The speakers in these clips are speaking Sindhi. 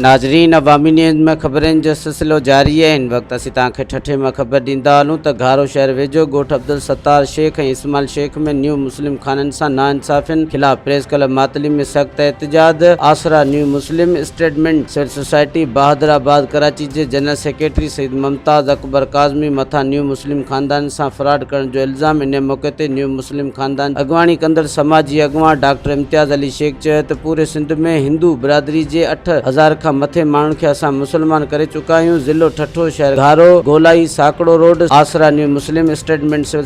ناظرين عوامي نيوز ۾ خبرين جو سلسلو جاري آهي هن وقت اسين توهان کي ٺٺي ۾ خبر ڏيندا هلون ته گهارو شهر ويجهو ڳوٺ عبدالستار شيخ ۽ اسماعيل شيخ ۾ نيو مسلم خانن سان ناانصافين خلاف پريس ڪلب ماتلي ۾ سخت احتجاج Asra new Muslim statement civil society Bahadurabad Karachi جي جنرل سيڪريٽري سيد ممتاز اڪبر ڪاظمي مٿان نيو مسلم خاندان سان فراڊ ڪرڻ جو الزام انهيء موقعي تي نيو مسلم خاندان جي اڳواڻي ڪندڙ سماجي اڳواڻ ڊاڪٽر امتياز علي شيخ چيو ته پوري سنڌ ۾ هندو برادري جي اٺ هزار کان مٿي ماڻهن کي اسان مسلمان ڪري چڪا آهيون ضلعو ٺٽو شهر گهارو گولائي Sakro road Asra new Muslim statement civil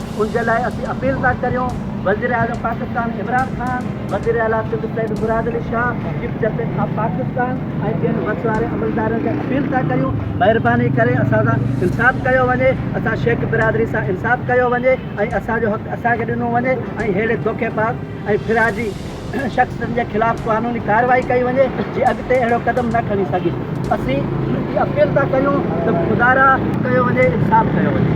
ان جي لاء اسين اپيل ٿا ڪريون وزيراعظم پاڪستان عمران خان، وزيراعليٰ Sindh Syed Murad Ali Shah, chief justice of Pakistan ۽ ٻين وس واري عملدارن کي اپيل ٿا ڪريون مهرباني ڪري اسان سان انصاف ڪيو وڃي، اسان شيخ برادري سان انصاف ڪيو وڃي ۽ اسان جو حق اسان کي ڏنو وڃي ۽ ههڙي دوکي باز ۽ ڦراڊي شخصن جي خلاف قانوني ڪارروائي ڪئي وڃي جي اڳتي اهڙو قدم نه کڻي سگهي. اسين اپيل ٿا ڪريون ته خدارا ڪيو وڃي انصاف ڪيو وڃي.